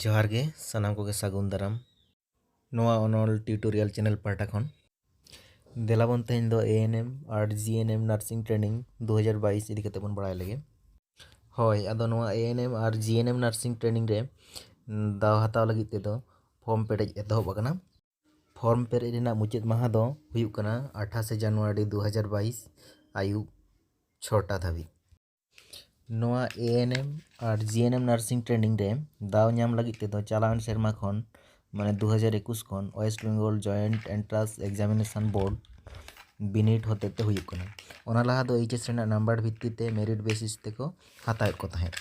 ᱡᱚᱦᱟᱨ ᱜᱮ ᱥᱟᱱᱟᱢ ᱠᱚᱜᱮ ᱥᱟᱹᱜᱩᱱ ᱫᱟᱨᱟᱢ ᱱᱚᱣᱟ ᱚᱱᱚᱞ ᱴᱤᱭᱩᱴᱳᱨᱤᱭᱟᱞ ᱪᱮᱱᱮᱞ ᱯᱟᱦᱴᱟ ᱠᱷᱚᱱ ᱫᱮᱞᱟᱵᱚᱱ ᱛᱮᱦᱮᱧ ᱫᱚ ᱮᱮᱱᱮᱢ ᱟᱨ ᱡᱤᱮᱱᱮᱢ ᱱᱟᱨᱥᱤᱝ ᱴᱨᱮᱱᱤᱝ ᱫᱩ ᱦᱟᱡᱟᱨ ᱵᱟᱭᱤᱥ ᱤᱫᱤ ᱠᱟᱛᱮ ᱵᱚᱱ ᱵᱟᱲᱟᱭ ᱞᱮᱜᱮ ᱦᱳᱭ ᱟᱫᱚ ᱱᱚᱣᱟ ᱮᱮᱱᱮᱢ ᱟᱨ ᱡᱤᱮᱱᱮᱢ ᱱᱟᱨᱥᱤᱝ ᱴᱨᱮᱱᱤᱝ ᱨᱮ ᱫᱟᱣ ᱦᱟᱛᱟᱣ ᱞᱟᱹᱜᱤᱫ ᱛᱮᱫᱚ ᱯᱷᱚᱨᱢ ᱯᱮᱨᱮᱡ ᱮᱛᱚᱦᱚᱵ ᱟᱠᱟᱱᱟ ᱯᱷᱚᱨᱢ ᱯᱮᱨᱮᱡ ᱨᱮᱱᱟᱜ ᱢᱩᱪᱟᱹᱫ ᱢᱟᱦᱟ ᱫᱚ ᱦᱩᱭᱩᱜ ᱠᱟᱱᱟ ᱟᱴᱷᱟᱥᱮ ᱡᱟᱱᱩᱣᱟᱨᱤ ᱫᱩ ᱦᱟᱡᱟᱨ ᱵᱟᱭᱤᱥ ᱟᱹᱭᱩᱵ ᱪᱷᱚᱴᱟ ᱫᱷᱟᱹᱵᱤᱡ ᱱᱚᱣᱟ ᱮ ᱮᱱ ᱮᱢ ᱟᱨ ᱡᱤ ᱮᱱ ᱮᱢ ᱱᱟᱨᱥᱤᱝ ᱴᱨᱮᱱᱤᱝ ᱨᱮ ᱫᱟᱣ ᱧᱟᱢ ᱞᱟᱹᱜᱤᱫ ᱛᱮᱫᱚ ᱪᱟᱞᱟᱣᱮᱱ ᱥᱮᱨᱢᱟ ᱠᱷᱚᱱ ᱢᱟᱱᱮ ᱫᱩ ᱦᱟᱡᱟᱨ ᱮᱠᱩᱥ ᱠᱷᱚᱱ West Bengal joint entrance examination board ᱵᱤᱱᱤᱰ ᱦᱚᱛᱮᱡ ᱛᱮ ᱦᱩᱭᱩᱜ ᱠᱟᱱᱟ ᱚᱱᱟ ᱞᱟᱦᱟ ᱫᱚ ᱮᱭᱤᱪ ᱮᱥ ᱨᱮᱱᱟᱜ ᱱᱟᱢᱵᱟᱨ ᱵᱷᱤᱛᱛᱤ ᱛᱮ ᱢᱮᱨᱤᱴ ᱵᱮᱥᱤᱥ ᱛᱮᱠᱚ ᱦᱟᱛᱟᱣᱮᱫ ᱠᱚ ᱛᱟᱦᱮᱸᱫ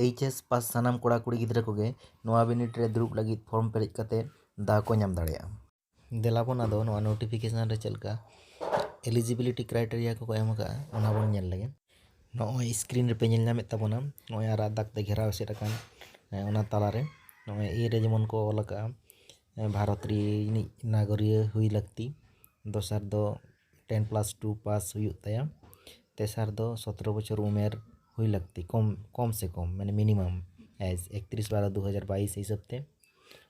ᱮᱭᱤᱪ ᱮᱥ ᱯᱟᱥ ᱥᱟᱱᱟᱢ ᱠᱚᱲᱟᱼᱠᱩᱲᱤ ᱜᱤᱫᱽᱨᱟᱹ ᱠᱚᱜᱮ ᱱᱚᱣᱟ ᱵᱤᱱᱤᱰ ᱨᱮ ᱫᱩᱲᱩᱵ ᱞᱟᱹᱜᱤᱫ ᱯᱷᱨᱚᱢ ᱯᱮᱨᱮᱡ ᱠᱟᱛᱮᱫ ᱫᱟᱣ ᱠᱚ ᱧᱟᱢ ᱫᱟᱲᱮᱭᱟᱜᱼᱟ ᱫᱮᱞᱟ ᱵᱚᱱ ᱟᱫᱚ ᱱᱚᱣᱟ ᱱᱳᱴᱤᱯᱷᱤᱠᱮᱥᱚᱱ ᱨᱮ ᱪᱮᱫ ᱞᱮᱠᱟ ᱮᱞᱤᱡᱤᱵᱤᱞᱤᱴᱤ ᱠᱨᱟᱭᱴᱮᱨᱤᱭᱟ ᱠᱚᱠᱚ ᱮᱢ ᱟᱠᱟᱫᱼᱟ ᱚᱱᱟ ᱵᱚᱱ ᱧᱮᱞ ᱞᱮᱜᱮ ᱱᱚᱜᱼᱚᱭ ᱥᱠᱨᱤᱱ ᱨᱮᱯᱮ ᱧᱮᱞ ᱧᱟᱢᱮᱫ ᱛᱟᱵᱚᱱᱟ ᱱᱚᱜᱼᱚᱭ ᱟᱨᱟᱜ ᱫᱟᱜᱽ ᱛᱮ ᱜᱷᱮᱨᱟᱣ ᱮᱥᱮᱫ ᱟᱠᱟᱱ ᱚᱱᱟ ᱛᱟᱞᱟᱨᱮ ᱱᱚᱜᱼᱚᱭ ᱮ ᱨᱮ ᱡᱮᱢᱚᱱ ᱠᱚ ᱚᱞ ᱟᱠᱟᱫᱼᱟ ᱵᱷᱟᱨᱚᱛ ᱨᱤᱱᱤᱡ ᱱᱟᱜᱚᱨᱤᱭᱟᱹ ᱦᱩᱭ ᱞᱟᱹᱠᱛᱤ ᱫᱚᱥᱟᱨ ᱫᱚ ᱴᱮᱱ ᱯᱞᱟᱥ ᱴᱩ ᱯᱟᱥ ᱦᱩᱭᱩᱜ ᱛᱟᱭᱟ ᱛᱮᱥᱟᱨ ᱫᱚ ᱥᱚᱛᱨᱚ ᱵᱚᱪᱷᱚᱨ ᱩᱢᱮᱨ ᱦᱩᱭ ᱞᱟᱹᱠᱛᱤ ᱠᱚᱢ ᱠᱚᱢ ᱥᱮ ᱠᱚᱢ ᱢᱟᱱᱮ ᱢᱤᱱᱤᱢᱟᱢ ᱮᱠᱛᱨᱤᱥ ᱵᱟᱨᱚ ᱫᱩ ᱦᱟᱡᱟᱨ ᱵᱟᱭᱤᱥ ᱦᱤᱥᱟᱹᱵᱽ ᱛᱮ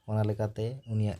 ᱚᱱᱟ ᱞᱮᱠᱟᱛᱮ ᱩᱱᱤᱭᱟᱜ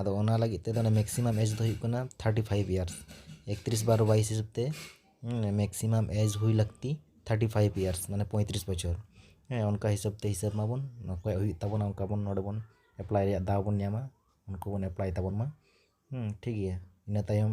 ᱟᱫᱚ ᱚᱱᱟ ᱞᱟᱹᱜᱤᱫ ᱛᱮᱫᱚ ᱢᱮᱠᱥᱤᱢᱟᱢ ᱮᱡᱽ ᱫᱚ ᱦᱩᱭᱩᱜ ᱠᱟᱱᱟ ᱛᱷᱟᱨᱴᱤ ᱯᱷᱟᱭᱤᱵᱽ ᱤᱭᱟᱨᱥ ᱮᱠᱛᱨᱤᱥ ᱵᱟᱨᱚ ᱵᱟᱭᱤᱥ ᱦᱤᱥᱟᱹᱵ ᱛᱮ ᱢᱮᱠᱥᱤᱢᱟᱢ ᱮᱡᱽ ᱦᱩᱭ ᱞᱟᱹᱠᱛᱤ ᱛᱷᱟᱨᱴᱤ ᱯᱷᱟᱭᱤᱵᱽ ᱤᱭᱟᱨᱥ ᱢᱟᱱᱮ ᱯᱚᱸᱭᱛᱨᱤᱥ ᱵᱚᱪᱷᱚᱨ ᱦᱮᱸ ᱚᱱᱠᱟ ᱦᱤᱥᱟᱹᱵ ᱛᱮ ᱦᱤᱥᱟᱹᱵ ᱢᱟᱵᱚᱱ ᱚᱠᱚᱭᱟᱜ ᱦᱩᱭᱩᱜ ᱛᱟᱵᱚᱱᱟ ᱚᱱᱠᱟ ᱵᱚᱱ ᱱᱚᱰᱮ ᱵᱚᱱ ᱮᱯᱞᱟᱭ ᱨᱮᱭᱟᱜ ᱫᱟᱣ ᱵᱚᱱ ᱧᱟᱢᱟ ᱩᱱᱠᱩ ᱵᱚᱱ ᱮᱯᱞᱟᱭ ᱛᱟᱵᱚᱱ ᱢᱟ ᱦᱮᱸ ᱴᱷᱤᱠ ᱜᱮᱭᱟ ᱤᱱᱟᱹ ᱛᱟᱭᱚᱢ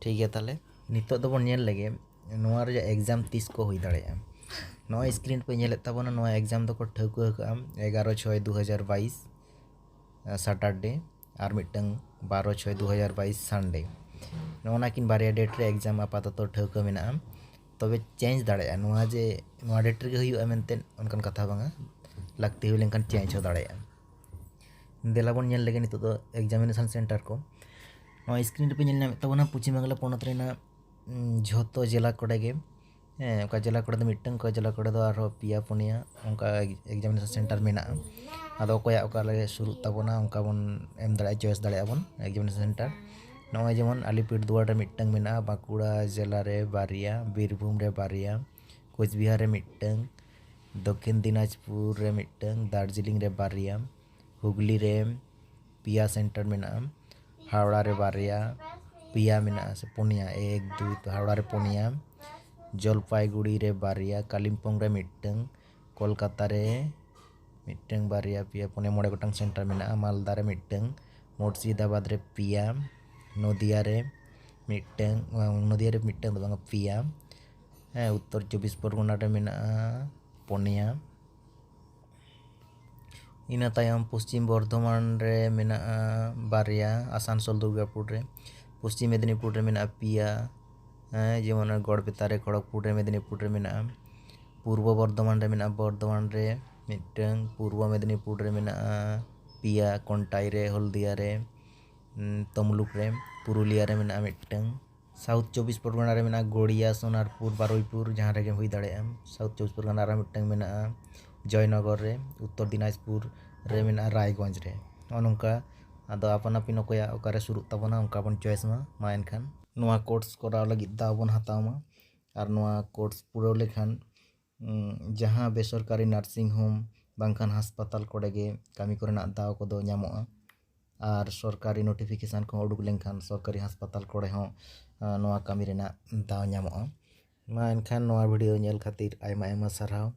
ᱴᱷᱤᱠ ᱜᱮᱭᱟ ᱛᱟᱦᱚᱞᱮ ᱱᱤᱛᱚᱜ ᱫᱚᱵᱚᱱ ᱧᱮᱞ ᱞᱮᱜᱮ ᱱᱚᱣᱟ ᱨᱮᱭᱟᱜ ᱮᱠᱡᱟᱢ ᱛᱤᱥ ᱠᱚ ᱦᱩᱭ ᱫᱟᱲᱮᱭᱟᱜᱼᱟ ᱱᱚᱜᱼᱚᱭ ᱥᱠᱨᱤᱱ ᱯᱮ ᱧᱮᱞᱮᱫ ᱛᱟᱵᱚᱱᱟ ᱱᱚᱣᱟ ᱮᱠᱡᱟᱢ ᱫᱚᱠᱚ ᱴᱷᱟᱹᱣᱠᱟᱹ ᱟᱠᱟᱫᱼᱟ ᱮᱜᱟᱨᱚ ᱪᱷᱚᱭ ᱫᱩ ᱦᱟᱡᱟᱨ ᱵᱟᱭᱤᱥ ᱥᱟᱴᱟᱨᱰᱮ ᱟᱨ ᱢᱤᱫᱴᱟᱝ ᱵᱟᱨᱚ ᱪᱷᱚᱭ ᱫᱩ ᱦᱟᱡᱟᱨ ᱵᱟᱭᱤᱥ ᱥᱟᱱᱰᱮ ᱱᱚᱜᱼᱚ ᱱᱟ ᱠᱤᱱ ᱵᱟᱨᱭᱟ ᱰᱮᱴ ᱨᱮ ᱮᱠᱡᱟᱢ ᱟᱯᱟᱛᱚᱛᱚ ᱴᱷᱟᱹᱣᱠᱟᱹ ᱢᱮᱱᱟᱜᱼᱟ ᱛᱚᱵᱮ ᱪᱮᱧᱡᱽ ᱫᱟᱲᱮᱭᱟᱜᱼᱟ ᱱᱚᱣᱟ ᱡᱮ ᱱᱚᱣᱟ ᱰᱮᱴ ᱨᱮᱜᱮ ᱦᱩᱭᱩᱜᱼᱟ ᱢᱮᱱᱛᱮ ᱚᱱᱠᱟᱱ ᱠᱟᱛᱷᱟ ᱵᱟᱝᱟ ᱞᱟᱹᱠᱛᱤ ᱦᱩᱭ ᱞᱮᱱᱠᱷᱟᱱ ᱪᱮᱧᱡᱽ ᱦᱚᱸ ᱫᱟᱲᱮᱭᱟᱜᱼᱟ ᱫᱮᱞᱟ ᱵᱚᱱ ᱧᱮᱞ ᱞᱮᱜᱮ ᱱᱤᱛᱚᱜ ᱫᱚ ᱮᱠᱡᱟᱢᱤᱱᱮᱥᱚᱱ ᱥᱮᱱᱴᱟᱨ ᱠᱚ ᱱᱚᱣᱟ ᱥᱠᱨᱤᱱ ᱨᱮᱯᱮ ᱧᱮᱞ ᱧᱟᱢᱮᱫ ᱛᱟᱵᱚᱱᱟ ᱯᱚᱪᱷᱤᱢ ᱵᱟᱝᱞᱟ ᱯᱚᱱᱚᱛ ᱨᱮᱱᱟᱜ ᱡᱷᱚᱛᱚ ᱡᱮᱞᱟ ᱠᱚᱨᱮ ᱜᱮ ᱦᱮᱸ ᱚᱠᱟ ᱡᱮᱞᱟ ᱠᱚᱨᱮ ᱫᱚ ᱢᱤᱫᱴᱟᱝ ᱚᱠᱟ ᱡᱮᱞᱟ ᱠᱚᱨᱮ ᱫᱚ ᱟᱨᱦᱚᱸ ᱯᱮᱭᱟ ᱯᱩᱱᱭᱟ ᱚᱱᱠᱟ ᱮᱠᱡᱟᱢᱤᱱᱮᱥᱚᱱ ᱥᱮᱱᱴᱟᱨ ᱢᱮᱱᱟᱜᱼᱟ ᱟᱫᱚ ᱚᱠᱚᱭᱟᱜ ᱚᱠᱟ ᱨᱮ ᱥᱩᱨᱩᱜ ᱛᱟᱵᱚᱱᱟ ᱚᱱᱠᱟ ᱵᱚᱱ ᱮᱢ ᱫᱟᱲᱮᱭᱟᱜᱼᱟ ᱪᱚᱭᱮᱥ ᱫᱟᱲᱮᱭᱟᱜᱼᱟ ᱵᱚᱱ ᱮᱠᱡᱟᱢᱤᱱᱮᱥᱚᱱ ᱥᱮᱱᱴᱟᱨ ᱱᱚᱜᱼᱚᱭ ᱡᱮᱢᱚᱱ ᱟᱞᱤᱯᱩᱨᱫᱩᱣᱟᱨ ᱨᱮ ᱢᱤᱫᱴᱟᱝ ᱢᱮᱱᱟᱜᱼᱟ ᱵᱟᱸᱠᱩᱲᱟ ᱡᱮᱞᱟ ᱨᱮ ᱵᱟᱨᱭᱟ ᱵᱤᱨᱵᱷᱩᱢ ᱨᱮ ᱵᱟᱨᱭᱟ ᱠᱳᱪᱵᱤᱦᱟᱨ ᱨᱮ ᱢᱤᱫᱴᱟᱝ ᱫᱚᱠᱷᱤᱱ ᱫᱤᱱᱟᱡᱽᱯᱩᱨ ᱨᱮ ᱢᱤᱫᱴᱟᱹᱝ, ᱫᱟᱨᱡᱤᱞᱤᱝ ᱨᱮ ᱵᱟᱨᱭᱟ, ᱦᱩᱜᱽᱞᱤ ᱨᱮ ᱯᱮᱭᱟ ᱥᱮᱱᱴᱟᱨ ᱢᱮᱱᱟᱜᱼᱟ, ᱦᱟᱣᱲᱟ ᱨᱮ ᱵᱟᱨᱭᱟ, ᱯᱮᱭᱟ ᱢᱮᱱᱟᱜᱼᱟ ᱥᱮ ᱯᱩᱱᱭᱟ, ᱮᱠ ᱫᱩᱭ ᱛᱚ ᱦᱟᱣᱲᱟ ᱨᱮ ᱯᱩᱱᱭᱟ, ᱡᱚᱞᱯᱟᱭᱜᱩᱲᱤ ᱨᱮ ᱵᱟᱨᱭᱟ, ᱠᱟᱞᱤᱢᱯᱚᱝ ᱨᱮ ᱢᱤᱫᱴᱟᱹᱝ, ᱠᱚᱞᱠᱟᱛᱟ ᱨᱮ ᱢᱤᱫᱴᱟᱹᱝ, ᱵᱟᱨᱭᱟ, ᱯᱮᱭᱟ, ᱯᱩᱱᱭᱟ, ᱢᱚᱬᱮ ᱜᱚᱴᱟᱝ ᱥᱮᱱᱴᱟᱨ ᱢᱮᱱᱟᱜᱼᱟ, ᱢᱟᱞᱫᱟ ᱨᱮ ᱢᱤᱫᱴᱟᱹᱝ, ᱢᱩᱨᱥᱤᱫᱟᱵᱟᱫᱽ ᱨᱮ ᱯᱮᱭᱟ, ᱱᱚᱫᱤᱭᱟ ᱨᱮ ᱢᱤᱫᱴᱟᱹᱝ, ᱱᱚᱫᱤᱭᱟ ᱨᱮ ᱢᱤᱫᱴᱟᱹᱝ ᱫᱚ ᱵᱟᱝᱼᱟ ᱯᱮᱭᱟ, ᱦᱮᱸ ᱩᱛᱛᱚᱨ ᱪᱚᱵᱽᱵᱤᱥ ᱯᱚᱨᱜᱚᱱᱟ ᱨᱮ ᱢᱮᱱᱟᱜᱼᱟ ᱯᱚᱱᱭᱟ ᱤᱱᱟᱹ ᱛᱟᱭᱚᱢ ᱯᱚᱥᱪᱤᱢ ᱵᱚᱨᱫᱷᱚᱢᱟᱱ ᱨᱮ ᱢᱮᱱᱟᱜᱼᱟ ᱵᱟᱨᱭᱟ ᱟᱥᱟᱱᱥᱳᱞ ᱫᱩᱨᱜᱟᱯᱩᱨ ᱨᱮ ᱯᱚᱥᱪᱤᱢ ᱢᱮᱫᱽᱱᱤᱯᱩᱨ ᱨᱮ ᱢᱮᱱᱟᱜᱼᱟ ᱯᱮᱭᱟ ᱦᱮᱸ ᱡᱮᱢᱚᱱ ᱜᱚᱲᱵᱮᱛᱟ ᱨᱮ ᱠᱷᱚᱲᱚᱜᱽᱯᱩᱨ ᱨᱮ ᱢᱮᱫᱽᱱᱤᱯᱩᱨ ᱨᱮ ᱢᱮᱱᱟᱜᱼᱟ ᱯᱩᱨᱵᱚ ᱵᱚᱨᱫᱷᱚᱢᱟᱱ ᱨᱮ ᱢᱮᱱᱟᱜᱼᱟ ᱵᱚᱨᱫᱷᱚᱢᱟᱱ ᱨᱮ ᱢᱤᱫᱴᱟᱹᱝ ᱯᱩᱨᱵᱚ ᱢᱮᱫᱽᱱᱤᱯᱩᱨ ᱨᱮ ᱢᱮᱱᱟᱜᱼᱟ ᱯᱮᱭᱟ ᱠᱚᱱᱴᱟᱭ ᱨᱮ ᱦᱚᱞᱫᱤᱭᱟ ᱨᱮ ᱛᱟᱢᱞᱩᱠ ᱨᱮ ᱯᱩᱨᱩᱞᱤᱭᱟ ᱨᱮ ᱢᱮᱱᱟᱜᱼᱟ ᱢᱤᱫᱴᱟᱹᱝ ᱥᱟᱣᱩᱛᱷ ᱪᱚᱵᱽᱵᱤᱥ ᱯᱚᱨᱜᱚᱱᱟ ᱨᱮ ᱢᱮᱱᱟᱜᱼᱟ ᱜᱳᱲᱤᱭᱟ ᱥᱳᱱᱟᱨᱯᱩᱨ ᱵᱟᱨᱩᱭᱯᱩᱨ ᱡᱟᱦᱟᱸ ᱨᱮᱜᱮᱢ ᱦᱩᱭ ᱫᱟᱲᱮᱭᱟᱜᱼᱟᱢ ᱥᱟᱣᱩᱛᱷ ᱪᱚᱵᱽᱵᱤᱥ ᱯᱚᱨᱜᱚᱱᱟ ᱨᱮ ᱢᱤᱫᱴᱟᱝ ᱢᱮᱱᱟᱜᱼᱟ ᱡᱚᱭᱱᱚᱜᱚᱨ ᱨᱮ ᱩᱛᱛᱚᱨ ᱫᱤᱱᱟᱡᱽᱯᱩᱨ ᱨᱮ ᱢᱮᱱᱟᱜᱼᱟ ᱨᱟᱭᱜᱚᱸᱡᱽ ᱨᱮ ᱱᱚᱜᱼᱚ ᱱᱚᱝᱠᱟ ᱟᱫᱚ ᱟᱯᱟᱱ ᱟᱹᱯᱤᱱ ᱚᱠᱚᱭᱟᱜ ᱚᱠᱟᱨᱮ ᱥᱩᱨᱩᱜ ᱛᱟᱵᱚᱱᱟ ᱚᱱᱠᱟ ᱵᱚᱱ ᱪᱚᱭᱮᱥ ᱢᱟ ᱢᱟ ᱮᱱᱠᱷᱟᱱ ᱱᱚᱣᱟ ᱠᱳᱨᱥ ᱠᱚᱨᱟᱣ ᱞᱟᱹᱜᱤᱫ ᱫᱟᱣ ᱵᱚᱱ ᱦᱟᱛᱟᱣ ᱢᱟ ᱟᱨ ᱱᱚᱣᱟ ᱠᱳᱨᱥ ᱯᱩᱨᱟᱹᱣ ᱞᱮᱠᱷᱟᱱ ᱡᱟᱦᱟᱸ ᱵᱮᱥᱚᱨᱠᱟᱨᱤ ᱱᱟᱨᱥᱤᱝ ᱦᱳᱢ ᱵᱟᱝᱠᱷᱟᱱ ᱦᱟᱥᱯᱟᱛᱟᱞ ᱠᱚᱨᱮ ᱜᱮ ᱠᱟᱹᱢᱤ ᱠᱚᱨᱮᱱᱟᱜ ᱫᱟᱣ ᱠᱚᱫᱚ ᱧᱟᱢᱚᱜᱼᱟ ᱟᱨ ᱥᱚᱨᱠᱟᱨᱤ ᱱᱳᱴᱤᱯᱷᱤᱠᱮᱥᱚᱱ ᱠᱚ ᱩᱰᱩᱠ ᱞᱮᱱᱠᱷᱟᱱ ᱥᱚᱨᱠᱟᱨᱤ ᱦᱟᱥᱯᱟᱛᱟᱞ ᱠᱚᱨᱮ ᱦᱚᱸ ᱱᱚᱣᱟ ᱠᱟᱹᱢᱤ ᱨᱮᱱᱟᱜ ᱫᱟᱣ ᱧᱟᱢᱚᱜᱼᱟ ᱢᱟ ᱮᱱᱠᱷᱟᱱ ᱱᱚᱣᱟ ᱵᱷᱤᱰᱭᱳ ᱧᱮᱞ ᱠᱷᱟᱹᱛᱤᱨ ᱟᱭᱢᱟ ᱟᱭᱢᱟ ᱥᱟᱨᱦᱟᱣ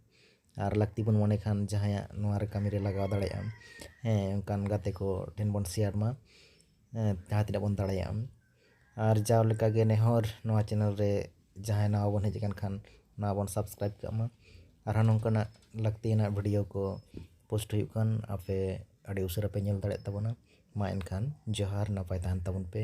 ᱟᱨ ᱞᱟᱹᱠᱛᱤ ᱵᱚᱱ ᱢᱚᱱᱮ ᱠᱷᱟᱱ ᱡᱟᱦᱟᱸᱭᱟᱜ ᱱᱚᱣᱟ ᱨᱮ ᱠᱟᱹᱢᱤ ᱨᱮ ᱞᱟᱜᱟᱣ ᱫᱟᱲᱮᱭᱟᱜ ᱟᱢ ᱦᱮᱸ ᱚᱱᱠᱟᱱ ᱜᱟᱛᱮ ᱠᱚ ᱴᱷᱮᱱ ᱵᱚᱱ ᱥᱮᱭᱟᱨ ᱢᱟ ᱡᱟᱦᱟᱸ ᱛᱤᱱᱟᱹᱜ ᱵᱚᱱ ᱫᱟᱲᱮᱭᱟᱜᱼᱟ ᱟᱨ ᱡᱟᱣ ᱞᱮᱠᱟᱜᱮ ᱱᱮᱦᱚᱨ ᱱᱚᱣᱟ ᱪᱮᱱᱮᱞ ᱨᱮ ᱡᱟᱦᱟᱸᱭ ᱱᱟᱣᱟ ᱵᱚᱱ ᱦᱮᱡ ᱟᱠᱟᱱ ᱠᱷᱟᱱ ᱱᱚᱣᱟ ᱵᱚᱱ ᱥᱟᱵᱥᱠᱨᱟᱭᱤᱵᱽ ᱠᱟᱜ ᱢᱟ ᱟᱨᱦᱚᱸ ᱱᱚᱝᱠᱟᱱᱟᱜ ᱞᱟᱹᱠᱛᱤᱭᱟᱱᱟᱜ ᱵᱷᱤᱰᱭᱳ ᱠᱚ ᱯᱳᱥᱴ ᱦᱩᱭᱩᱜ ᱠᱟᱱ ᱟᱯᱮ ᱟᱹᱰᱤ ᱩᱥᱟᱹᱨᱟ ᱯᱮ ᱧᱮᱞ ᱫᱟᱲᱮᱭᱟᱜ ᱛᱟᱵᱚᱱᱟ ᱢᱟ ᱮᱱᱠᱷᱟᱱ ᱡᱚᱦᱟᱨ ᱱᱟᱯᱟᱭ ᱛᱟᱦᱮᱱ ᱛᱟᱵᱚᱱ ᱯᱮ